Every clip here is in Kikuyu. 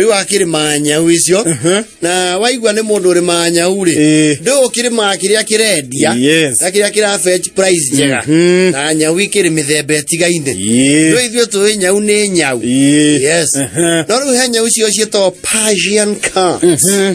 rĩu akĩrĩmaga nyau icio Mhm. na waigua nĩ mũndũ ũrĩmaga nyau rĩ Ĩĩ. ndũĩ ũkĩrĩmaga kĩrĩa kĩrendia Yes. na kĩrĩa kĩra fetch price njega Mhm. na nyau ikĩrĩ mĩthemba ĩtigaine Ĩĩ. ndũĩ ithuĩ tũĩ nyau nĩ nyau Ĩĩ. yes Mhm. no rĩu he nyau icio ciĩtagwo Persian cats Mhm.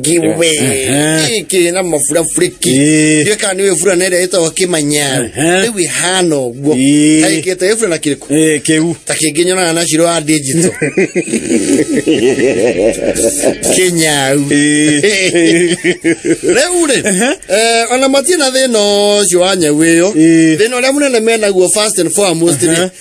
giveaway Ehe. gĩkĩ na mabura burĩki Ĩĩ. ndiũĩ kana nĩ wĩbura na ĩrĩa ĩtagwo kĩmanyaro Ehe. rĩu ĩhana ũguo Ĩĩ. taĩkĩte wĩbura na kĩrĩkũ Eh, kĩu ta kĩngĩ nyonaga na ciro wa ndinjito kĩnyau Eh. rĩu rĩ eh, ona matirĩ na thĩna ũcio wa nyau ĩyo Ĩĩ. thĩna ũrĩa mũnene menaguo first and foremost rĩ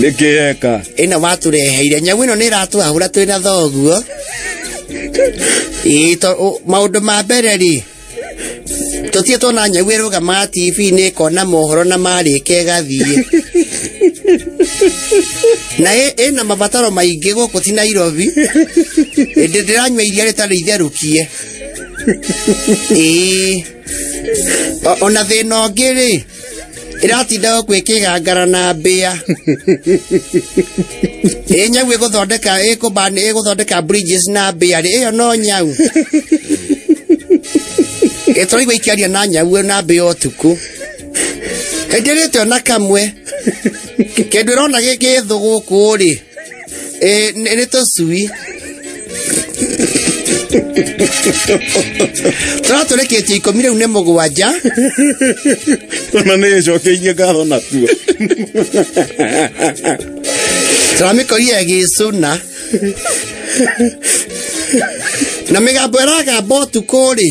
nĩkĩ eka ĩno watũreheire nyamũ ĩno nĩ ĩratwahũra twĩ na thoguo Ĩĩ, to- ũ- maũndũ ma mbere rĩ tũtiĩ tuona nyau ĩrũgama tv-inĩ ĩkona mohoro na marĩka ĩgathiĩ na ĩ- ĩna mabataro maingĩ gũkũ ti nairobi ĩndĩ ndĩranyua iria rĩtarĩ itherũkie ĩĩ O- ona thĩna ũngĩ rĩ ĩratinda o kwĩ kĩgangara na mbĩa ĩ nyau ĩgũthondeka ĩkũmbani ĩgũthondeka bridges na mbĩa rĩ ĩyo no nyau ĩtũraigua ikiaria na nyau na mbĩa ũtukũ hĩndĩ ĩrĩte ona kamwe kĩndũ ĩrona gĩkĩthũ gũkũ rĩ Eh, nene to sui. Tũra tũreketie ikũmi rĩu nĩ mũgwanja ona nä ä cokeirie ngatho natuo tũramĩkorire ĩgĩcũna na mĩgambo ĩragamba ũtukũ-rĩ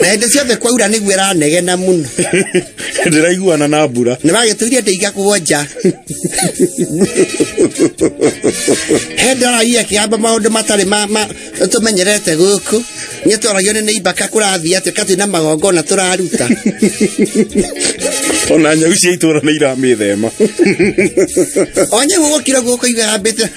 na hĩndĩ ciothe kwaura nĩguo ĩranegena mũno ndĩraiguana na mbura nĩ wagĩtũire ndĩiga kũgwo nja he ndorai akĩamba maũndũ matarĩ ma- ma- tũmenyerete gũkũ nĩ twaragio nĩ nĩimbaka kũrathiĩ atĩ katĩ na magongona tũraruta ona nyau cia itũra nĩ iramĩthema onye gũgũkira guoko igambĩte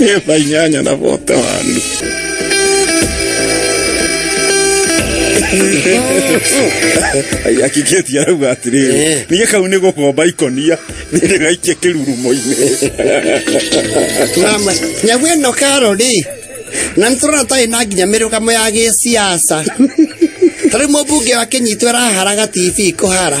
Ela nhanha na volta, mano. akigeti arauga atiriri ninge kau nä gå komba ikonia nä ndä gaikie kä rurumo-inä Mama, nyagu ĩno karo rĩ na nĩ tũrona tarĩ na nginya mĩrũgamo ya gĩciaca ta rĩu mũmbunge wa kĩnyitũ araharaga tv kũhara